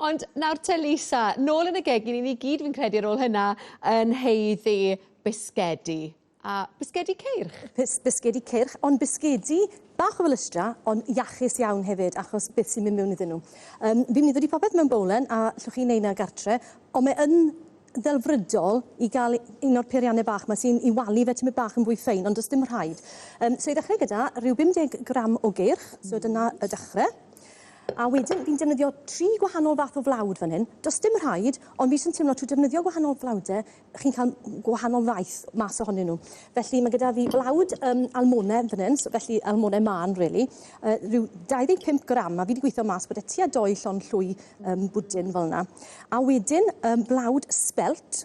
Ond nawr te Lisa, nôl yn y gegin i ni gyd fi'n credu ar ôl hynna yn heiddi bisgedi. A bisgedi ceirch? Bis, bisgedi ceirch, ond bisgedi bach o felystra, ond iachus iawn hefyd, achos beth sy'n mynd mewn iddyn nhw. Um, fi'n mynd i ddod i popeth mewn bowlen, a llwch chi'n neud na gartre, ond mae yn ddelfrydol i gael un o'r peiriannau bach mae sy'n i walu fe tymud bach yn fwy ffein, ond does dim rhaid. Um, so i ddechrau gyda rhyw 50 gram o geirch, so dyna y dechrau. A wedyn fi'n defnyddio tri gwahanol fath o flawd fan hyn. Does dim rhaid, ond fi jyst yn teimlo trwy defnyddio gwahanol flawdau, chi'n cael gwahanol faeth mas ohonyn nhw. Felly mae gyda fi blawd um, almone fan hyn, so felly almone man, really. Uh, rhyw 25 gram, a fi wedi gweithio mas bod e tua doi llon llwy um, bwdin fel yna. A wedyn um, blawd spelt,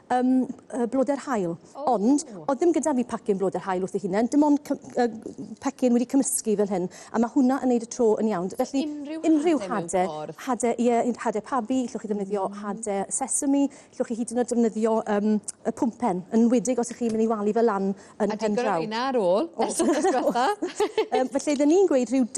um, uh, blodau'r hael. Oh. Ond, oedd ddim gyda fi pacyn blodau'r hael wrth ei hunain, dim ond uh, pecyn wedi cymysgu fel hyn, a mae hwnna yn neud y tro yn iawn. Felly, unrhyw, unrhyw hade, hade, ie, hade pabi, llwch chi ddefnyddio mm. hade sesame, llwch chi hyd yn oed defnyddio um, y pwmpen, yn wedig os ych chi'n mynd i walu fel lan yn pen draw. A digon o ar ôl, ers y diwetha. um, felly, dyn ni'n gweud rhyw,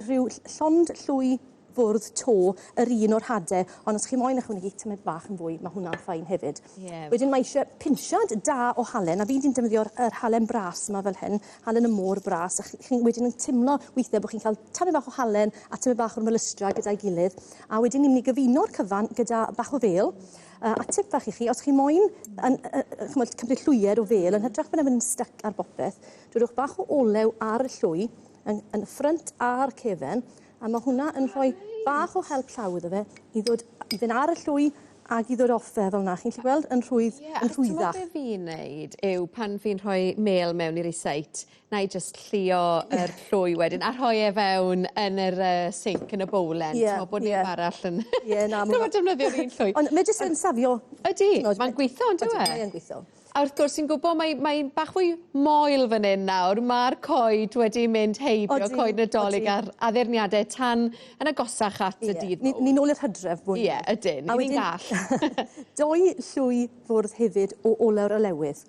rhyw llond llwy bwrdd to yr un o'r hade ond os chi moyn ychwanegu tymed bach yn fwy ma' hwnna'n fine hefyd. Ie. Wedyn mae isie pinsiad da o halen a fi 'di defnyddio'r yr halen bras 'ma fel hyn, halen y môr bras a chi chi'n wedyn yn timlo withe bo' chi'n ca'l tymed bach o halen a tymed bach o'r melystra gyda'i gilydd a wedyn ni myn' i gyfuno'r cyfan gyda bach o fêl yy a tip fach i chi os chi moyn yn yy yy ch'mod cymryd llwyed o fêl yn hytrach bod e myn' yn styc ar bopeth dwedwch bach o olew ar y llwy yn yn y ffrynt a'r cefen A mae hwnna yn rhoi bach o help llaw iddo fe i ddod i fynd ar y llwy ag i ddod off e fel 'na chi'n 'llu gweld yn rhwydd yeah, yn rhwyddach. Ie, fi'n neud yw pan fi'n rhoi mêl mewn i'r iseit, na i just llio yr yeah. llwy wedyn a rhoi e fewn yn yr uh, sink yn y bowlen, yeah, ti'n bod neb yeah. arall yn... Ie, na, mae'n... defnyddio'r un llwy. Ond mae jyst yn safio. Ydy, mae'n gweithio, yn dweud? Mae'n gweithio. A wrth gwrs, ti'n gwybod, mae, mae bach fwy moel fan hyn nawr. Mae'r coed wedi mynd heibio, odi, coed nadolig odi. a'r addurniadau tan yn agosach at y dydd mowr. Ni'n ôl i'r hydref bwyd. Ie, ydyn, ni'n gall. Doi llwy fwrdd hefyd o oleu'r olewydd.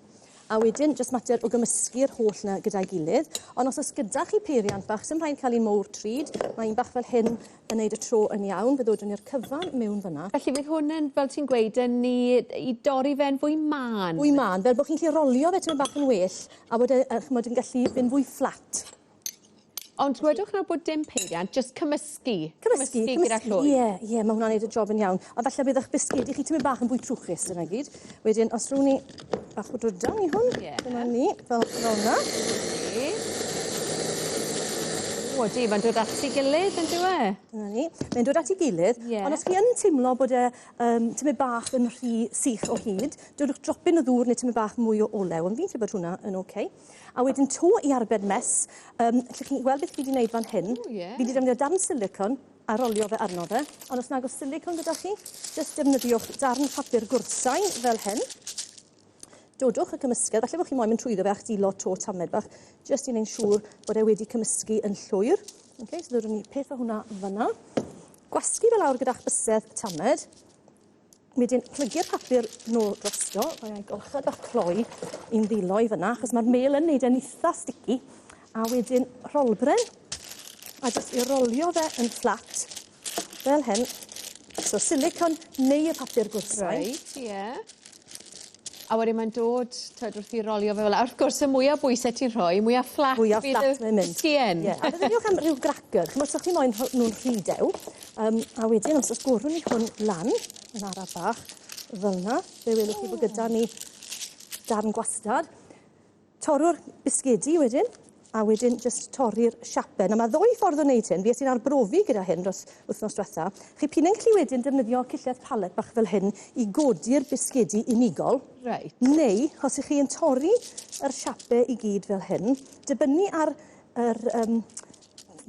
A wedyn, jyst mater o gymysgu'r holl na gyda'i gilydd. Ond os oes gyda chi peiriant bach, sy'n rhaid cael un mowr trud, mae un bach fel hyn yn neud y tro yn iawn, fe ddodwn ni'r cyfan mewn fyna. Felly fydd hwn yn, fel ti'n gweud, yn i, i dorri fe'n fwy mân? Fwy mân, fel bod chi'n gallu rolio fe tyma'n bach yn well, a bod e, a chymod, yn gallu mynd fwy fflat. Ond wedwch nawr bod dim peiriant, just cymysgu. Cymysgu, cymysgu gyda llwy. Ie, ie, mae hwnna'n neud y job yn iawn. A falle bydd eich bisgedi chi tyma'n bach yn fwy trwchus, dyna gyd. Wedyn, os rhywun ni Bach o drydan i hwn. Ie. Dyma ni, fel yna. O, di, mae'n dod at ei gilydd, yn dyw e? Dyna ni. Mae'n dod at ei gilydd, yeah. ond os chi yn teimlo bod e um, tymed bach yn rhy sych o hyd, dylwch dropyn o ddŵr neu tymed bach mwy o olew, ond fi'n credu bod hwnna yn oce. Okay. A wedyn to i arbed mes, um, lle chi'n gweld beth fi wedi gwneud fan hyn, oh, yeah. fi wedi defnyddio darn silicon, a rolio fe arno fe. Ond os nag oes silicone gyda chi, jyst defnyddiwch darn papur gwrthsain fel hyn. Dodwch y cymysgedd, falle bod chi moyn mynd trwyddo fe a'ch dilo to tamed bach, jyst i wneud siŵr bod e wedi cymysgu yn llwyr. Okay, so ddodwn ni peth o hwnna fyna. Gwasgu fe lawr gyda'ch bysedd tamed. Wedyn plygu'r papur nôl drosto, mae e'n golchedd bach cloi i'n ddilo i fyna, achos mae'r mêl yn neud e'n eitha sticky. A wedyn rholbren, a jyst i rolio fe yn fflat, fel hyn. So silicon neu y papur gwrthsain. Reit, ie. Yeah. A wedyn mae'n dod t'wod wrth 'i rolio fe fela a wrth gwrs y mwya bwyse ti'n rhoi mwya fflat fydd y... Mwya fflat mae'n mynd. ...sgïen. Ie a meddyliwch am ryw gracyr ch'mod 'sach chi moyn rho- nw'n rhy dew yym a wedyn os o's bwrw ni hwn lan yn araf bach fel 'na fe welwch chi bo' gyda ni darn gwastad. Torrwr bisgedi wedyn, a wedyn jyst torri'r siape. Nawr mae ddwy ffordd o wneud hyn, fi es i'n arbrofi gyda hyn dros wythnos diwetha. Chi p'un yn gallu wedyn defnyddio cillell palet bach fel hyn i godi'r bisgedi unigol. Reit. Neu, os ych chi yn torri yr siape i gyd fel hyn, dibynnu ar yr um,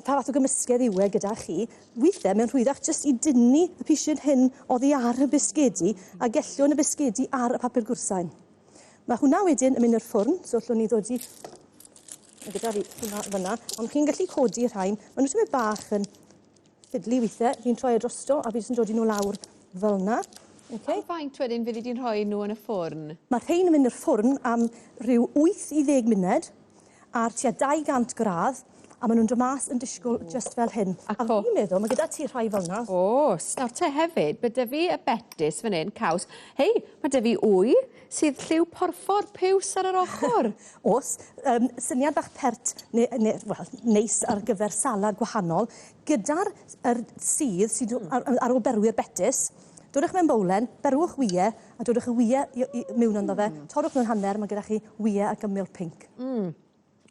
pa fath o gymysgedd yw e gyda chi, weithiau mae'n rhwyddach jyst i dynnu y pisyn hyn oddi ar y bisgedi a gellwn y bisgedi ar y papur gwrsain. Mae hwnna wedyn yn mynd i'r ffwrn, so allwn ni ddod i... Mae gyda fi hwnna fyna, ond chi'n gallu codi y rhain. Mae nhw tymed bach yn ffidlu weithiau, fi'n troi e drosto a fi jyst yn dod i nhw lawr fel yna. Okay. Am faint wedyn fyddi di'n rhoi nhw yn y ffwrn? Mae rhain yn mynd i'r ffwrn am rhyw 8 i 10 munud. ar tua 200 gradd a maen nhw'n dod mas yn disgwyl just fel hyn. A, a fi'n meddwl, mae gyda ti rhai fel yna. Os, nawr te hefyd, mae dy fi y betis fan hyn, caws. Hei, mae dy fi wy sydd lliw porffor piws ar yr ochr. Os, um, syniad fach pert, neu, ne, well, neis ar gyfer salad gwahanol, gyda'r er sydd sydd ar, ar ôl berwi'r betis, dodwch mewn bowlen, berwch wie, a dodwch y wyau i, i, mewn ynddo fe. Mm. Torrwch nhw'n hanner, mae gyda chi wyau ac ymyl pink. Mm.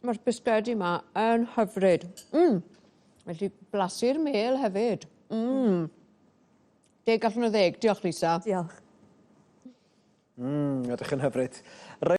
Mae'r bisgedi yma yn hyfryd. Mm. Felly blasu'r mel hefyd. Mm. Deg allan o ddeg. Diolch, Lisa. Diolch. Mm, ydych yn hyfryd. Rhaid